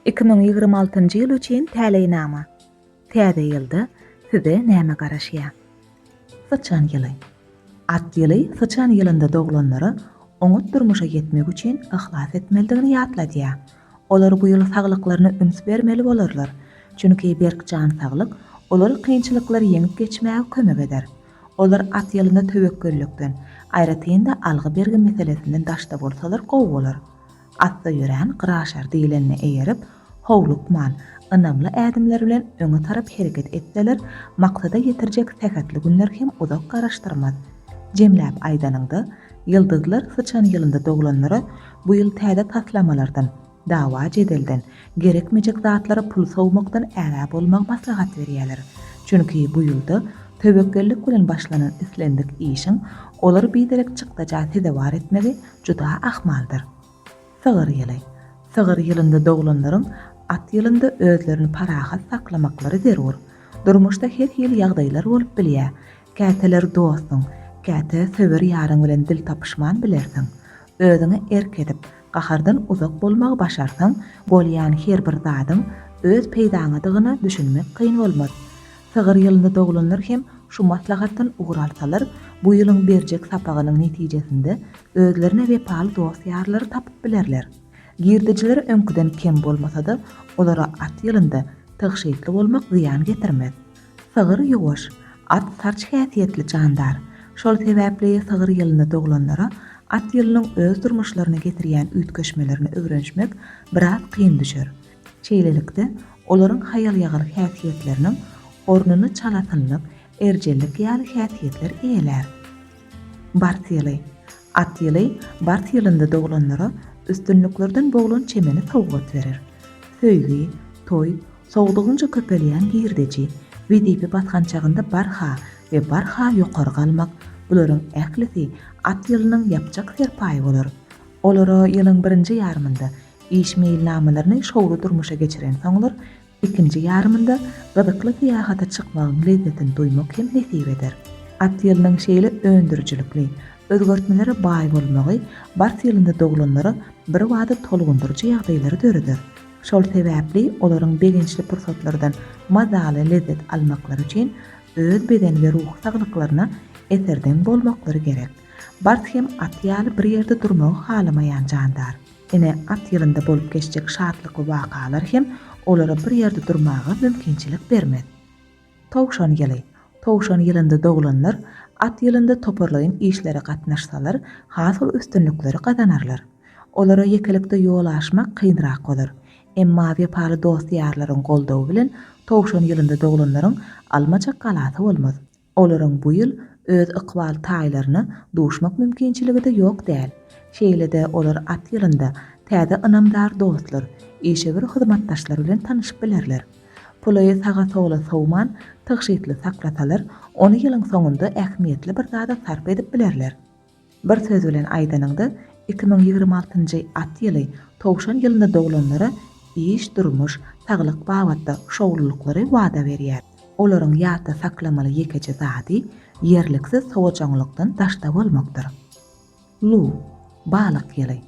Iki müň ýigrimi altynjy ýyl üçin täleýnama. Täze ýylda size näme garaşýar? Syçan ýyly. At ýyly syçan ýylynda doglanlara oňat durmuşa ýetmek üçin yhlas etmelidigini ýatladýar. Olar bu ýyl saglyklaryna üns bermeli bolarlar, çünki berk jan saglyk olara kynçylyklary ýeňip geçmäge kömek eder. Olar at ýylynda töwekgellikden, aýratyn-da algy-bergi meselesinden daşda bolsalar gowy bolar. Atda ýörän Gyraşar diýlenine eýerip, howlukman, ynamly ädimler bilen öňe tarap hereket etseler, maksada ýetirjek sähetli günler hem uzak garaşdyrmaz. Jemläp aýdanyňda, ýyldyzlar syçan ýylynda doglanlara bu ýyl täze taslamalardan, dawa-jedelden, gerekmejek zatlara pul sowmakdan ägä bolmagy maslahat berýärler. Çünki bu ýylda töwekgellik bilen başlanan islendik işiň olary biderek çykdaja sezewar etmegi Juda ahmaldyr. Sygyr ýyly. Sygyr ýylynda doglanlaryň at ýylynda özlerini parahat saklamaklary zerur. Durmuşda her hili ýagdaýlar bolup bilýär. Käteler dostuň, käte söwer ýaryň bilen dil tapyşman bilersiň. Özüňe erk edip, gahardan uzak bolmagy başarsaň, bolýan her bir zadyň öz peýdaňadygyna düşünmek kyn bolmaz. Sygyr ýylynda doglanlar hem şu maslahatdan ugur alsalar, bu ýylyň berjek sapagynyň netijesinde özlerine wepaly dost-ýarlary tapyp bilerler. Girdejileri öňküden kem bolmasa-da, olara at ýylynda tygşytly bolmak zyýan getirmez. Sygyr ýuwaş, at sarç häsiýetli jandar. Şol sebäpli sygyr ýylynda doglanlara at ýylynyň öz durmuşlaryna getirýän üýtgeşmelerine öwrenişmek biraz kyn düşer. Şeýlelikde, olaryň haýal-ýagyr häsiýetleriniň ornuny çalasynlyk, erjellik ýaly häsiýetler eýelär. Bars ýyly. At ýyly bars ýylynda doglanlara üstünliklerden boglan çemeni sowgat berer. Söýgi, toý, sowdugynja köpelýän girdeji, wezipe basgançagynda barha we barha ýokary galmak, bularyň ählisi at ýylynyň ýapjak serpaýy bolar. Olara ýylyň birinji ýarymynda Iş meýilnamalaryny şowly durmuşa geçiren soňlar, ikinji ýarymynda gyzykly syýahata çykmagyň lezzetini duýmak hem nesip eder. At ýylynyň şeýle öndürijilikli, özgertmelere baý bolmagy bars ýylynda doglanlara birbada tolgundyryjy ýagdaýlary döreder. Şol sebäpli olaryň begençli pursatlardan mazaly lezzet almaklary üçin öz beden we ruhy saglyklaryna eserdeň bolmaklary gerek. Bars hem at ýaly bir ýerde durmagy halamaýan jandar. Ene at ýylynda bolup geçjek şatlykly wakalar hem olara bir ýerde durmaga mümkinçilik bermez. Towşan ýyly. Towşan ýylynda doglanlar at ýylynda toparlaýyn işlere gatnaşsalar, has uly üstünlikleri gazanarlar. Olara ýekelikde ýol aşmak kynrak bolar. Emma wepaly dost-ýarlaryň goldawy bilen towşan ýylynda doglanlaryň almaja galasy bolmaz. Olaryň bu ýyl öz ykbal taýlaryna duşmak mümkinçiligi-de ýok däl. Şeýle-de olar at ýylynda täze ynamdar dostlar, işewür hyzmatdaşlar bilen tanyşyp bilerler. Puly saga-sola sowman, tygşytly saklasalar, ony ýylyň soňunda ähmiýetli bir zada sarp edip bilerler. Bir söz bilen aýdanyňda, iki müň ýigrimi altynjy at ýyly Towşan ýylynda doglanlara iş, durmuş, saglyk babatda şowlulyklary wada berýär. Olaryň ýatda saklamaly ýekeje zady ýerliksiz sowajaňlykdan daşda bolmakdyr. Luw, balyk ýyly.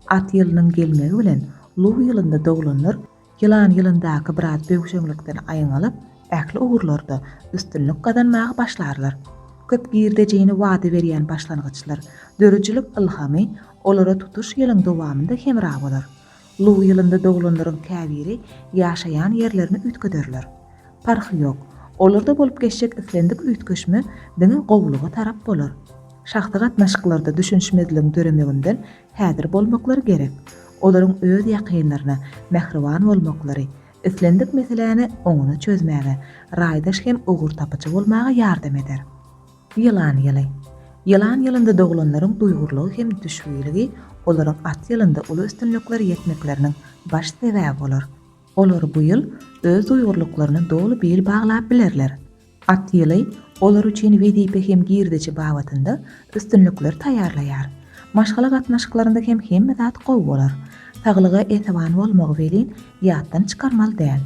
At ýylynyň gelmegi bilen Luw ýylynda doglanlar Ýylan ýylyndaky biraz böwşeňlikden aýyň alyp, ähli ugurlarda üstünlik gazanmaga başlarlar. Köp girdejini wada berýän başlangyçlar, döredijilik ylhamy olara tutuş ýylyň dowamynda hemra bolar. Luw ýylynda doglanlaryň käbiri ýaşaýan ýerlerini üýtgederler. Parhy ýok, olarda bolup geçjek islendik üýtgeşme diňe gowulyga tarap bolar. Şahsy gatnaşyklarda düşünişmezligiň döremeginden Häzir bolmaklary gerek. Olaryň öz ýakynlaryna mähriban bolmaklary, islendik meseläni oňuna çözmäge, raýdaş hem ugurtapyjy bolmaga ýardam eder. Ýylan ýyly. Ýylan ýylynda doglanlaryň duýgurlygy hem düşbüýligi olaryň at ýylynda uly üstünliklere ýetmekleriniň baş sebäbi bolar. Olar bu ýyl öz duýgurlyklaryna doly bil baglap bilerler. At ýyly olar üçin wezipe hem girdeji babatynda üstünlikler taýýarlaýar. Maşgala gatnaşyklarynda hem hemme zat gowy bolar. Saglyga esewan bolmagy welin, ýatdan çykarmaly däl.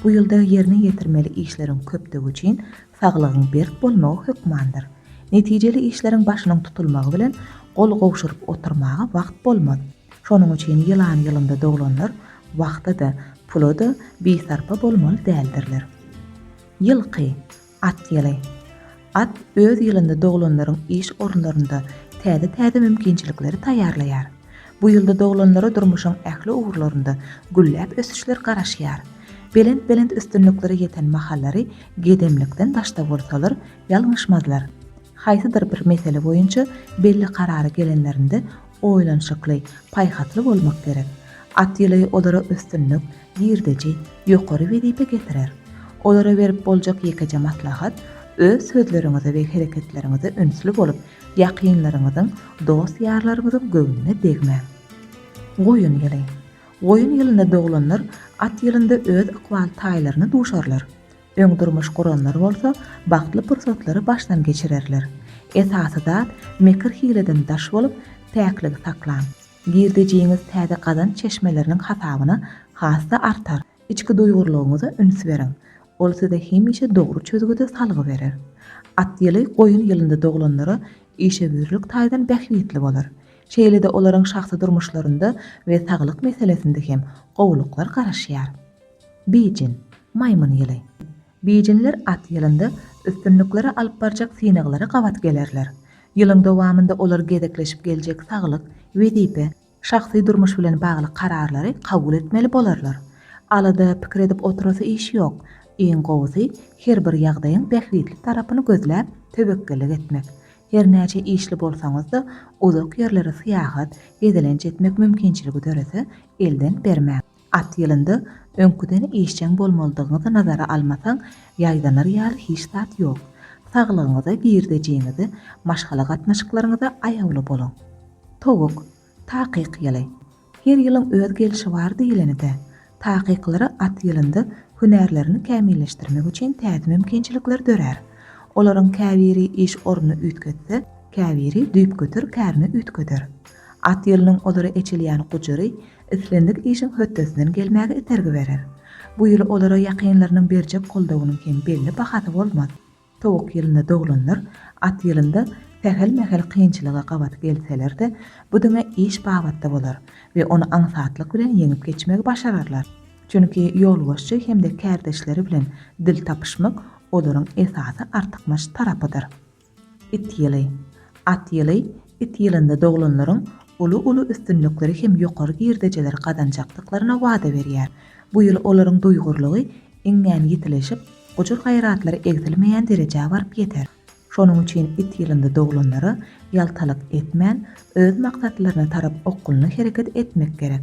Bu ýylda ýerine ýetirmeli işleriň köpdügi üçin saglygyň berk bolmagy hökmandyr. Netijeli işleriň başynyň tutulmagy bilen gol gowşuryp oturmaga wagt bolmaz. Şonuň üçin ýylan ýylynda doglanlar wagta-da, pula-da bisarpa bolmaly däldirler. Ýylky, At ýyly. At öz ýylynda doglanlaryň iş orunlarynda täze-täze mümkinçilikleri taýýarlaýar. Bu ýylda doglanlara durmuşyň ähli ugurlarynda gülläp ösüşler garaşýar. Belent-belent üstünliklere ýeten mahallary gedemlikden daşda bolsalar, ýalňyşmazlar. Haýsydyr bir mesele boýunça belli karara gelenlerinde oýlanyşykly, paýhasly bolmak gerek. At ýyly olara üstünlik, girdeji, ýokary wezipe getirer. Olara berip boljak ýekeje maslahat, öz sözleriňize we hereketleriňize ünsli bolup, ýakynlaryňyzyň, dost-ýarlaryňyzyň göwnüne degmäň. Goýun ýyly. Goýun ýylynda doglanlar at ýylynda öz ykbal taýlaryna duşarlar. Öň durmuş guranlar bolsa bagtly pursatlary başdan geçirerler. Esasy zat mekir-hileden daş bolup, päkligi saklaň. Girdejiňiz täze gazanç çeşmeleriniň hasabyna has-da artar. Içki duýgurlygyňyza üns beriň. Ol size hemişe dogry çözgüde salgy berer. At ýyly goýun ýylynda doglanlara işewürlik taýdan bähbitli bolar. Şeýle-de olaryň şahsy durmuşlarynda we saglyk meselesinde hem gowulyklar garaşýar. Beýjin, maýmyn ýyly. Beýjinler at ýylynda üstünliklere alyp barjak synaglara gabat gelerler. Ýylyň dowamynda olar gezekleşip geljek saglyk, wezipe, şahsy durmuş bilen bagly kararlary kabul etmeli bolarlar. Alada, pikir edip oturasy iş ýok. Iň gowusy, her bir ýagdaýyň bähbitli tarapyny gözläp, töwekgellik etmek. Her näçe işli bolsaňyz-da, uzak ýerlere syýahat, gezelenç etmek mümkinçiligi dörese, elden bermäň. At ýylynda öňküden işjeň bolmalydygyňyzy nazara almasaň, ýaýdanar ýaly hiç zat ýok. Saglygyňyza, girdejiňize, maşgala gatnaşyklaryňyza aýawly boluň. Towuk, takyk ýyly. Her ýylyň öz gelşi bar diýleni-dä. Takyklara at ýylynda hünärlerini kämilleşdirmek üçin täze mümkinçilikler dörär. Olaryň käbiri iş ornuny üýtgetse, käbiri düýpgöter kärini üýtgeder. At ýylynyň olara eçilýän gujary islendik işiň hötdesinden gelmäge itergi berer. Bu ýyl olara ýakynlarynyň berjek goldawynyň hem belli bahasy bolmaz. Towuk ýylynda doglanlar at ýylynda sähel-mähel kynçylyga gabat gelseler-de, bu diňe iş babatda bolar we ony aňsatlyk bilen ýeňip geçmegi başararlar. Çünki ýolbaşçy hem-de kärdeşleri bilen dil tapyşmak olaryň esasy artykmaç tarapydyr. It ýyly. At ýyly, it ýylynda doglanlaryň uly-uly üstünlikleri hem ýokary girdejileri gazanjakdyklaryna wada berýär. Bu ýyl olaryň duýgurlygy iňňän ýitileşip, gujur-gaýratlary egsilmeýän derejä baryp ýeter. Şonuň üçin it ýylynda doglanlara ýaltalyk etmän, öz maksatlaryna tarap okgunly hereket etmek gerek.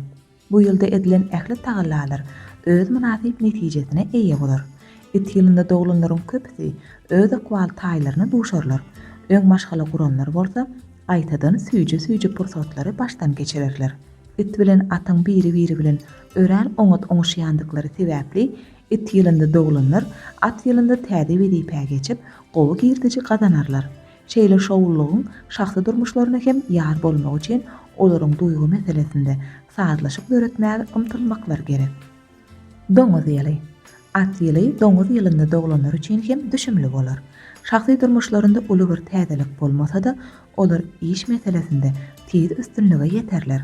Bu ýylda edilen ähli tagallalar öz mynasyp netijesine eýe bolar. It ýylynda doglanlaryň köpüsi öz ykbal taýlaryna duşarlar. Öň maşgala guranlar bolsa, gaýtadan süýji-süýji pursatlary başdan geçirerler. It bilen atyň biri-biri bilen örän oňat oňuşýandyklary sebäpli, it ýylynda doglanlar at ýylynda täze wezipä geçip, gowy girdiji gazanarlar. Şeýle şowlulygyň şahsy durmuşlaryna hem ýar bolmagy üçin olaryň duýgy meselesinde sazlaşyk döretmäge ymtylmaklary gerek. Doňuz ýyly. At ýyly doňuz ýylynda doglanlar üçin hem düşümli bolar. Şahsy durmuşlarynda uly bir täzelik bolmasa-da, olar iş meselesinde tiz üstünlige ýeterler.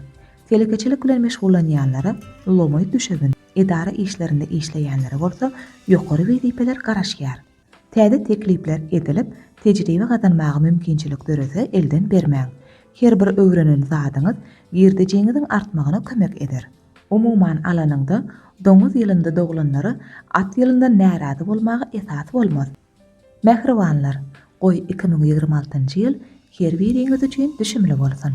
Telekeçilik bilen meşgullanýanlara lomaý düşebin, edara işlerinde işleýänlere bolsa ýokary wezipeler garaşýar. Täze teklipler edilip, tejribe gazanmaga mümkinçilik dörese elden bermäň. Her bir öwrenen zadyňyz girdejiňiziň artmagyna kömek eder. Umuman alanyňda, doňuz ýylynda doglanlara at ýylyndan närazy bolmaga esas bolmaz. Mähribanlar, goý iki müň ýigrimi altynjy ýyl her biriňiz üçin düşümli bolsun!